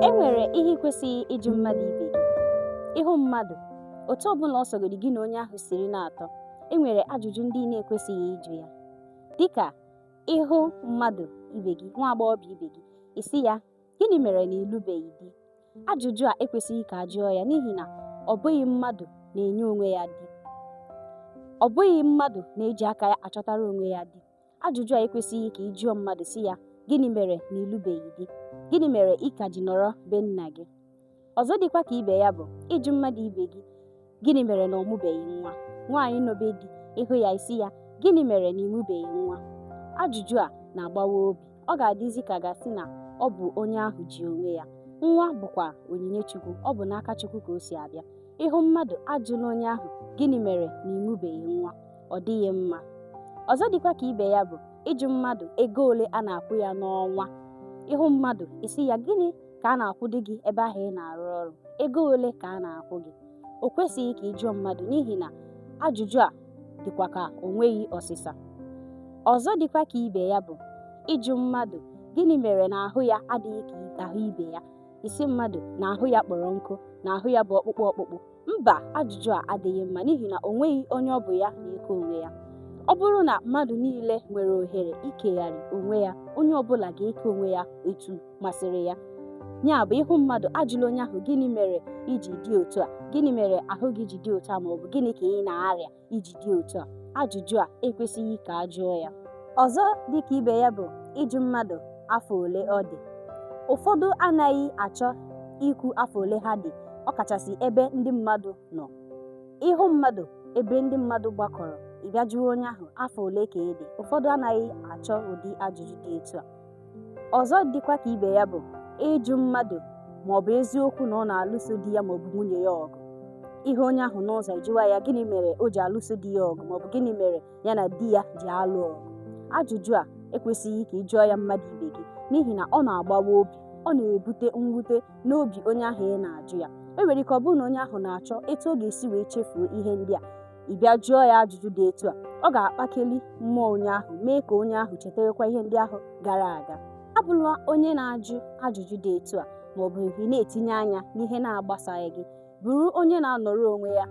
E nwere ihe ị kwesịghị ịjụ mmadụ ibe gị. Ị hụ mmadụ, otu ọ bụla ọ sọgodi gị na onye ahụ siri na-atọ, e nwere ajụjụ ndị ị na-ekwesịghị ịjụ ya. Dị ka ị hụ mmadụ ibe gị, nwa agbọghọbịa ibe gị, ị sị ya, Gịnị mere na ị lụbeghị di? Ajụjụ a ekwesịghị ka a jụọ ya n'ihi na ọ bụghị mmadụ na-enye onwe ya di. Ọ bụghị mmadụ na-eji aka ya achọtara onwe ya di. Ajụjụ a ekwesịghị ka ị jụọ mmadụ sị ya, Gịnị mere na ị lụbeghị di? Gịnị mere ị ka ji nọrọ be nna gị? Ọzọ dịkwa ka ibe ya bụ ịjụ mmadụ ibe gị, Gịnị mere na ọ mụbeghị nwa? Nwaanyị nọ be di, ị hụ ya ị sị ya, Gịnị mere na ị mụbeghị nwa? Ajụjụ a na-agbawa obi. Ọ ga-adịzi ka a ga-asị na ọ bụ onye ahụ ji onwe ya. Nwa bụkwa onyinye Chukwu, ọ bụ n'aka Chukwu ka o si abịa. Ị hụ mmadụ ajụla onye ahụ, Gịnị mere na ị mụbeghị nwa? ọ dịghị mma ọzọ dịkwa ka ibe ya bụ ịjụ mmadụ ego ole a na-akwụ ya n'ọnwa ị hụ mmadụ ị sị ya gịnị ka a na-akwụdị gị ebe ahụ ị na-arụ ọrụ ego ole ka a na-akwụ gị o kwesịghị ka ị jụọ mmadụ n'ihi na ajụjụ a dịkwa ka o nweghị ọsịsa ọzọ dịkwa ka ibe ya bụ ịjụ mmadụ gịnị mere na ahụ ya adịghị ka ahụ ibe ya ị sị mmadụ na ahụ ya kpọrọ nkụ na ahụ ya bụ ọkpụkpụ ọkpụkpụ Mba, ajụjụ a adịghị mma n'ihi na o nweghị onye ọ bụ ya na-eke onwe ya. Ọ bụrụ na mmadụ niile nwere ohere ikegharị onwe ya, onye ọ bụla ga-eke onwe ya etu masịrị ya. Ya bụ, ị hụ mmadụ ajụla onye ahụ gịnị mere i ji dị otu a, gịnị mere ahụ gị ji dị otu a ma ọ bụ gịnị ka ị na-arịa. i ji dị otu a ajụjụ a ekwesịghị ka a jụọ ya ọzọ dịka ibe ya bụ ịjụ mmadụ afọ ole ọ dị ụfọdụ anaghị achọ ikwu afọ ole ha dị ọkachasị ebe ndị mmadụ nọ ị hụ mmadụ ebe ndị mmadụ gbakọrọ ị bịa jụọ onye ahụ afọ ole ka ị dị ụfọdụ anaghị achọ ụdị ajụjụ dị etu a ọzọ dịkwa ka ibe ya bụ ịjụ mmadụ ma ọ bụ eziokwu na ọ na-alụso di ya ma ọ bụ nwunye ya ọgụ ị hụ onye ahụ n'ụzọ ị jụwa ya gịnị mere o ji alụso di ya ọgụ ma ọ bụ gịnị mere ya na di ya ji alụ ọgụ ajụjụ a ekwesịghị ka ị jụọ ya mmadụ ibe gị n'ihi na ọ na-agbawa obi ọ na-ebute mwute n'obi onye ahụ ị na-ajụ ya e nwere ike ọ bụrụ na onye ahụ na-achọ etu ọ ga-esi wee chefuo ihe ndị a ị bịa jụọ ya ajụjụ dị etu a ọ ga-akpakeli mmụọ onye ahụ mee ka onye ahụ chetakwa ihe ndị ahụ gara aga abụla onye na-ajụ ajụjụ dị etu a ma ọ bụ ị na-etinye anya n'ihe na-agbasaghị gị bụrụ onye na-anọrọ onwe ya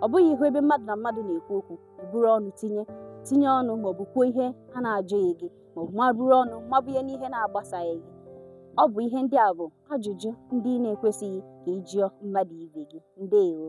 ọ bụghị ị hụ ebe mmadụ na mmadụ na-ekwu okwu buru ọnụ tinye tinye ọnụ ma ọ bụ kwuo ihe a na-ajụghị gị ma ọ bụ ma buru ọnụ mabụ ihe n'ihe na-agbasaghị gị ọ bụ ihe ndị a bụ ajụjụ ndị ị na-ekwesịghị ka ị jụọ mmadụ ibe gị ndewo